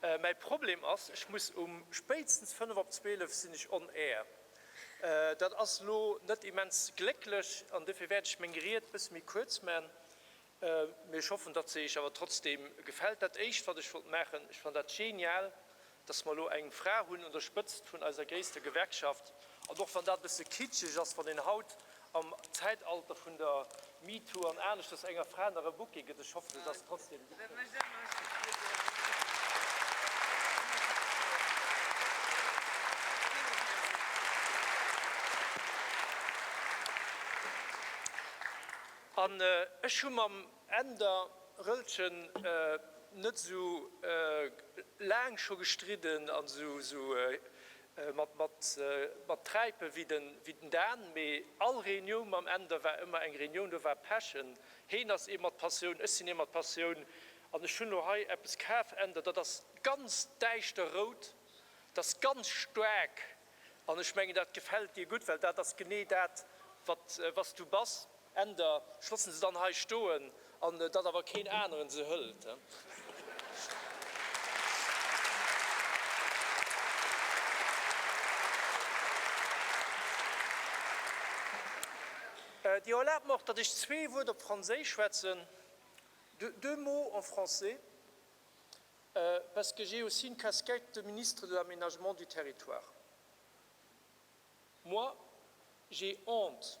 Mäi Problem ass, ech muss um spéitstens fënnef op zwielef sinn ech on air. Dat ass elo net immens glécklech an dofir wäert ech meng Ried bësse méi kuerz man, mee ech hoffen, datt se iech awer trotzdeem gefält. Dat éischt, wat ech wollt maachen, ech fannen dat genial, datt mer elo eng Fra hunn un der Spëtzt vun eiser gréisster Gewerkschaft, an och wann dat e bësse kitscheg ass, wann een haut Am Zäitalter vun der MeToo an aneschters, enger Fra nach e Bouquet gëtt, ech hoffen et ass trotzdem gepréint. An ech hu mam Änder Rëllchen net esou laang scho gestridden an esou Mat Träipe wéi den Dan, mee all Reuniou mam Änder war ëmmer eng Reunioun, do war Pech. En Heen ass ee mat Passioun, ech sinn ee mat Passioun an ech hunn elo hei eppes kaf, Änder, dat ass ganz däischter rout, dat ass ganz staark an ech mengen, dat gefält dir gutt, well dat ass genee dat, wat s du bass. Änder loossen se dann hei stoen, an datt awer keen aneren se hëlt. Dir erlaabt mer och, datt ech zwee Wuert op Franséisch schwätzen, deux mots en français, parce que j'ai aussi une casquette de Ministre de l'Aménagement du Territoire. Moi, j'ai honte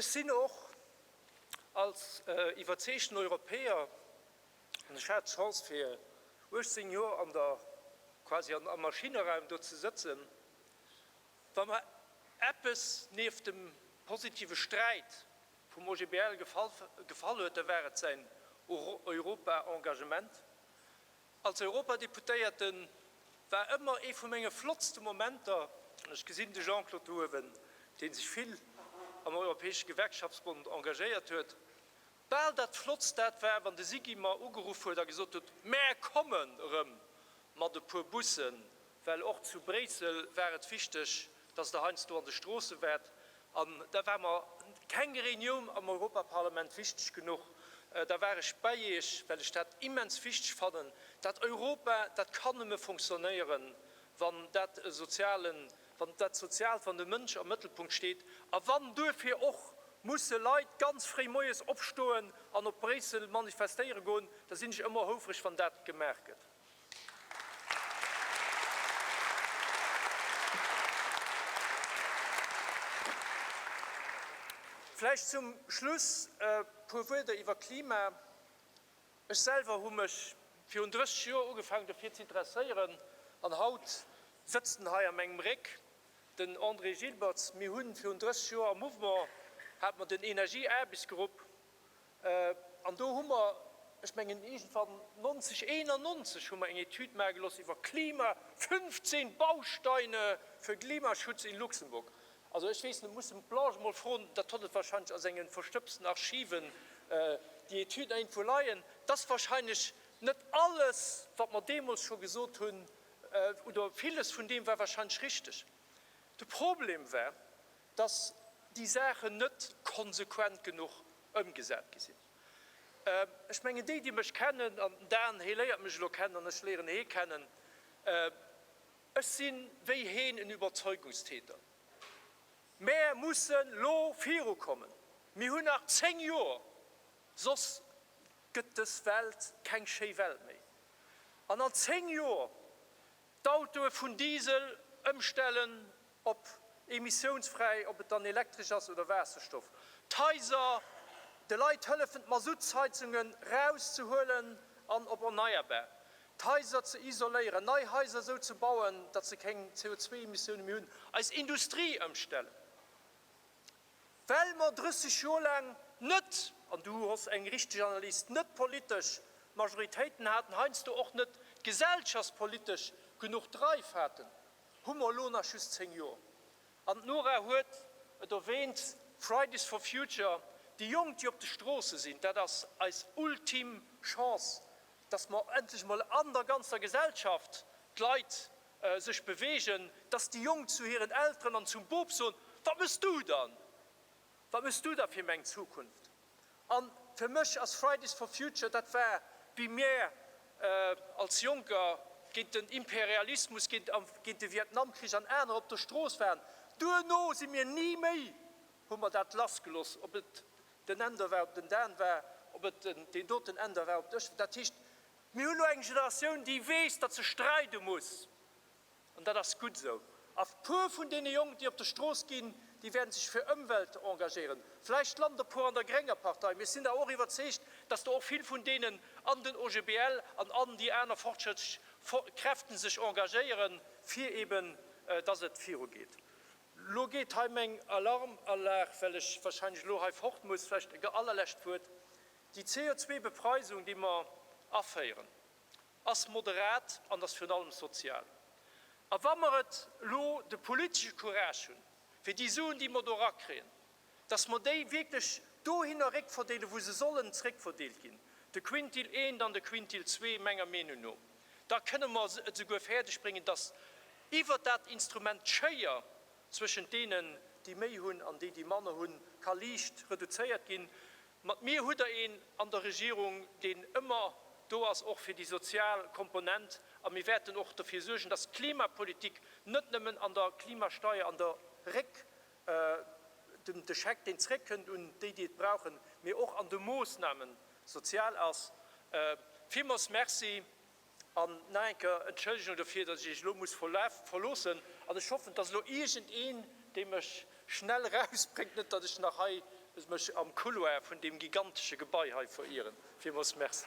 Ech sinn och als iwwerzeegten Europäer, an ech hat d'Chance fir 18 Joer an der, quasi an, am Maschinneraum do ze sëtzen, wa mer eppes nieft dem positive Sträit vum OGBL gefall huet, da war et säin Europa-Engagement. Als Europadeputéierte war ëmmer ee vu menge flottste Momenter, an ech gesinn de Jean-Claude do uewen, dee sech vill am Europäesche Gewerkschaftsbond engagéiert huet, bal dat flottst dat war, wann de SIGI mer ugeruff huet a gesot huet, Mär kommen erëm mat e puer Bussen Well och zu Bréissel war et wichteg, datt Der heiansdo an de Stroosse waart. An da war mer keng Reunioun am Europaparlament wichteg genuch. Da war ech bei Iech, well ech dat immens wichteg fannen. Dat Europa, dat kann nëmme fonctionnéieren, wann dat Sozialen, wann dat Soziaalt, wann de Mënsch am Mëttelpunkt steet a wann duerfir och musse Leit ganz fréi moies opstoen an op Bréissel manifestéiere goen. Da sinn ech ëmmer houfreg, wann dat gemaach gëtt. Vläicht zum Schluss e puer Wuerder iwwer Klima. Ech selwer hu mech virun 30 Joer ugefaangen dofir ze interesséieren an haut sëtzt en hei a mengem Réck, den André Gilbertz. Mir hu virun 30 Joer am Mouvement hat mer den Energieaarbechtsgrupp An do hu mer, ech mengen iergendwann 1991 hu mer eng Etüd maache gelooss iwwer Klima, 15 Bausteine für Klimaschutz in Luxemburg. Also ech weess net, ech muss dem Plange emol froen, dat hott et wahrscheinlech a sengen verstëbsten Archiven, déi Etüd iergendwou leien. Et ass wahrscheinlech net alles, wat mer deemools scho gesot hunn, oder villes vun deem war wahrscheinlech richteg. De Problem war, dass déi Saachen net konsequent genuch ëmgesat gi sinn. Ech mengen, déi, déi mech kennen, an den Dan, hee léiert mech elo kennen an ech léieren hee kennen, ech si wéi heen en Überzeugungstäter. Mäer mussen elo virukommen. Mir hunn nach zéng Joer, soss gëtt dës Welt keng schéi Welt méi. An an zéng Joer d'Autoe vun Diesel ëmstellen Ob emissiounsfräi, ob et dann elektresch ass oder Waasserstoff. D'Haiser, de Leit hëllefen d'Masuttsheizunge rauszehuelen an op erneierbar d'Haiser ze isoléieren, nei Haiser esou ze bauen, datt se keng CO2-Emissioune méi hunn. Eis Industrie ëmstellen, well mer 30 Joer laang net, an du hues eng richteg Analys, net d'politesch Majoritéiten haten, heiansdo och net d'gesellschaftspolitesch genuch Dreif haten. Hu mer elo nach just 10 Joer? An d'Nora huet et erwähnt, Fridays for Future, déi Jonk, déi op de Stroosse sinn, dat ass eis ultim Chance, dass mer endlech emol an der ganzer Gesellschaft d'Leit sech bewegen, dass déi Jonk zu hiren Elteren an zum Boob soen, Wat méchs du dann? Wat méchs du da fir meng Zukunft? An fir mech ass Fridays for Future, dat war wéi mir als Jonker géint den Imperialismus, géint a géint de Vietnamkrich an aner op der Strooss waren. Duerno si mir ni méi, hu mer dat lass geloss, ob et den Änder war, ob den Dan war, ob et den deen doten Änder war, ob ech. Dat heescht, mir hunn elo eng Generatioun, déi weess, datt se streide muss. An dat ass gutt esou. A puer vun deene Jonk, déi op de Strooss ginn, déi wäerte sech fir Ëmwelt engagéieren. Vläicht lande e puer an der grénger Partei, mee ech sinn awer och iwwerzeegt, datt do och vill vun deenen an den OGBL an an déi aner fortschrëttlech Kräfte sech engagéieren, fir eben datt et virugeet. Elo geet hei meng Alarmanlag, well ech warscheinlech elo hei fort muss. Vläicht e allerlescht Wuert, Déi CO2-Bepreisung, déi mer aféieren, ass moderat an ass virun allem sozial. A wa mer et elo de politesche Courage hunn, fir déi Suen, déi mer do erakriegen, dass mer déi wierklech dohinner réckverdeelen, wou se sollen zréckverdeelt ginn, de Quintil I an de Quintil ii, menger Meenung no, da kënne mer et esouguer fäerdegbréngen, dass iwwert dat Instrument d'Schéier zwëschent deenen, déi méi hunn, an déi, déi manner hunn, ka liicht reduzéiert ginn. Mat mir hutt der een an der Regierung, deen ëmmer do ass och fir déi sozial Komponent, a mir wäerten och derfir suergen, dass d'Klimapolitik net nëmmen an der Klimasteier, an der Réck, de Scheck, deen zréckkënnt un déi, déi et brauchen, mee och an de Moosnamen sozial ass. Villmools Merci. An nach eng Kéier Entschëllegung dofir, dass ech Iech elo muss verloossen. An ech hoffen, dass elo iergendeen, dee mech schnell erausbréngt, net dass ech nach hei mech am Couloir vun deem gigantesche Gebai hei verieren. Villmools Merci.